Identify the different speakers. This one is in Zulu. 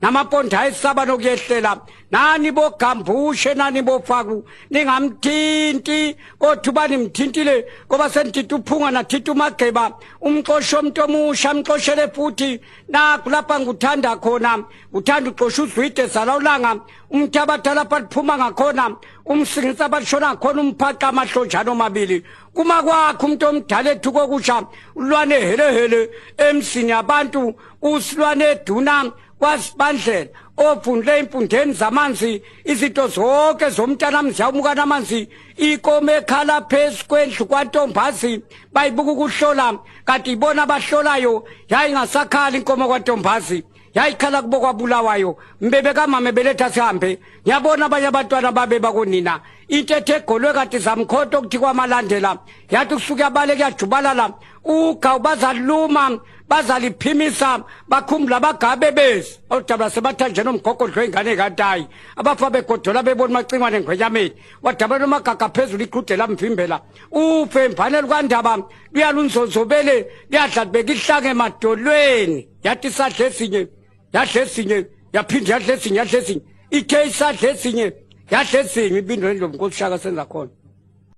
Speaker 1: namaponda ayisaba nokuyehlela nani bogambushe nani bofaku ningamthinti kodwa uba nimthintile ngoba senithinta uphunga nathinta umageba umxoshe umuntu omusha amxoshele futhi nakho lapha ngikuthanda khona uthanda uxosha uzwide zala ulanga umuntu abadala baliphuma ngakhona umsingisa balishona khona umphaqa amahlonjana omabili kuma kwakho umuntu omdala ethu kokusha ulwane helehele emsini yabantu usilwane duna wasibandlela ophundle impundeni zamanzi izinto zonke zomntana mzi yawumukana amanzi ikome ekhala phezu kwendlu kwantombazi bayibuka ukuhlola kanti ibona abahlolayo yayingasakhali inkomo kwantombazi yayikhala kubo kwabulawayo mbebe kamame beletha sihambe ngiyabona abanye abantwana babe bakonina into ethe egolwe kanti zamkhonto okuthi kwamalandela yathi kusuke abale kuyajubalala ugawu bazaluma bazaliphimisa bakhumbula abagabe bezi oludabula sebathanjena umgogodlo ingane kantayi abafa begodola bebona umacingwane ngwenyameni wadabula nomagaga phezulu iqhude lamvimbela ufe mvane lukandaba luyalunzonzobele liyadla libeka ihlanga emadolweni yathi isadla esinye yadla esinye yaphinde yadla esinye yadla esinye ithe isadla esinye yadla esinye ibindweni lomnkosi shaka senza khona